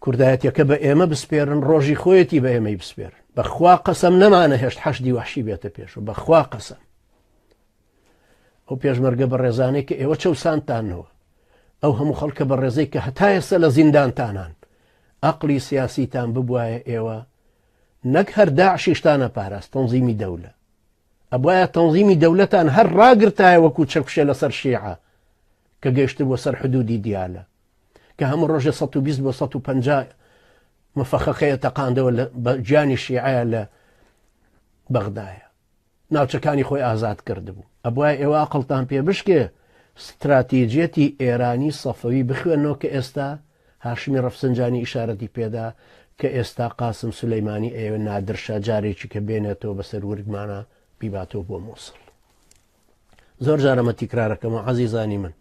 کوردایەتیەکە بە ئێمە بسپێرن ڕۆژی خۆیەتی بە ئێمەی بسپێرن بەخوا قەسەم نەمانە هێشت حەشدی وحشی بێتە پێش و بەخوا قەسەم ئەو پێشمەرگە بە ڕێزانێک کە ئێوە چەسانتانەوە ئەو هەموو خەڵکە بە ڕێزەی کە هەتا ئێستا لە زیندانتانان ئەقلی سیاسیتان ببواە ئێوە نەک هەر داعشیشتانە پاراست تەنزیمی دەولە ئەبوایە تەنزیمی دەولەتان هەر راگرتایە وەکو چەکوشێ لەسەر شیعە کە گەیشتبوە سەر حدودی دیالە کە هەموو رۆژێ 120 بۆ 150 مفەخەخەیە تەقاندەوە بە گیانی شیعەیە لە بەغدایە ناوچەکانی خۆی ئازاد کردبوو ئەبوای ئێوە ئەقلتان پێ بشکێ ستراتیجیەتی ئێرانی سەفەوی بخوێنەوە کە ئێستا هاشمی ڕەفسنجانی ئیشارەتی پێدا کە ئێستا قاسم سولەیمانی ئەیەوێ نادر شا جارێکی کە بێنێتەوە بەسەر ورگمانا بیباتەوە بۆ موسڵ. زۆر جار ئەمە تیکرارەکەمەوە عەزیزانی من.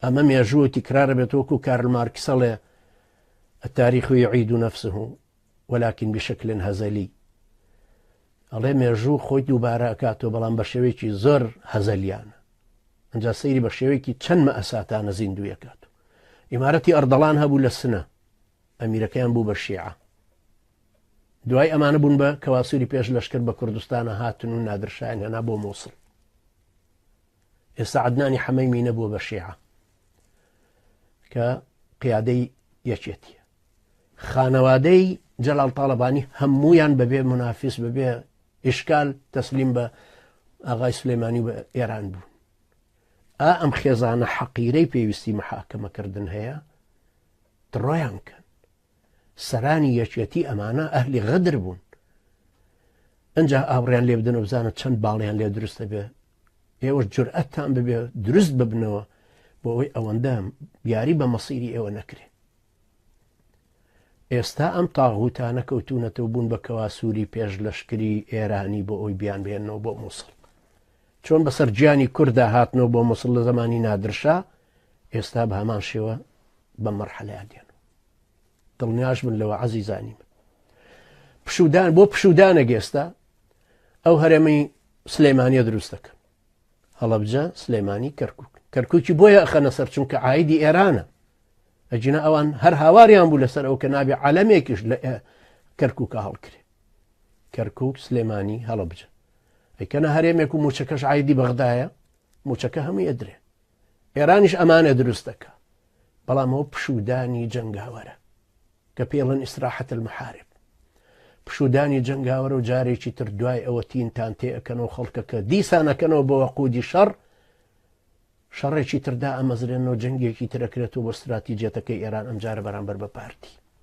ئەمە مێژووە تیکرارە بێت وەکو کارل مارکسەڵێ التاريخ يعيد نفسه ولكن بشکل هەزەلی ئەڵێ مێژوو خۆی دووبارە ئەکاتەوە بەڵام بە شێوەیەکی زۆر هەزەلیانە ئەجا سەیری بە شێوەیەکی چەند مەئەساتانە زیندویەکات و ئیمارەتی ئەردەڵان هەبوو لە سنە ئەمیرەکەیان بوو بە شیعە دوای ئەمانە بوون بە کەواسووری پێش لەشکر بە کوردستانە هاتن و نادرشایان هەنا بۆ مووسڵ ئێستا عدنانی حەمەی مینە بووە بە شێعە کە قیادەی یەکێتیە خانەوادەی جەلال تاالبانی هەمویان بەبێ منافیس بەبێ ئیشکال تەسلیم بە ئاغای سلێمانی بە ئێران بوو ئا ئەم خێزانە حەقیرەی پێویستی محاکەمەکردن هەیە دڕۆیان کەن سەرانی یەکێتی ئەمانە ئەهلی غەدر بوون ئەجا ئاوڕیان لێ بدەن و بزانە چەند باڵیان لێ دروستە بێ ئێوە جورئەتان ببێ دروست ببنەوە بۆ ئەوەی ئەوەندە یاری بە مەسیری ئێوە نەکرێ ئێستا ئەم تاغوتانە کەوتونەتەو بون بە کەواسوری پێش لەشکری ئێرانی بۆ ئەوی بیان بهێنەوە بۆ موسڵ چۆن بەسەر گیانی کوردا هاتنەوە بۆ موسڵ لە زمانی نادرشا ئێستا بە هەمان شێوە بە مەرحەلەیان دێن دڵنیاش بن لەوە عزیزانی من پشودان بۆ پشودانە گێستا ئەو هەرێمی سلێمانە دروست دەکەن هەڵەبجە سلێمانی کەرکک کەرککی بۆیە ئەخەنە سەر چونکە ئایدی ئێرانە ئەگینا ئەوان هەر هاواریان بوو لەسەر ئەو کە نابێ عالەمێکیش لە کەرکووکە هەڵکرێ کەرکک سلێمانی هەڵبجە ئەیکەنە هەرێمێک و موچەکەش عیدی بەغدایە موچەکە هەموو ئەدرێ ئێرانیش ئەمانە دروست دەکە بەڵام ئەو پشودانی جەنگاوەرە کە پێڵن ئیسراحەت المحارب پشودانی جەنگاوەرە و جارێکی تر دوای ئەوە تینتان تێ ئەەکەنەوە خەڵکەکە دیسانەکەنەوە بەوە قودی شەڕ شەڕێکی تر دائەمەزرێنەوە جەنگێکی تر ئەکرێتەوە بۆ ستراتیجیەتەکەی ئێران ئەمجارە بەرامبەر بە پارتی.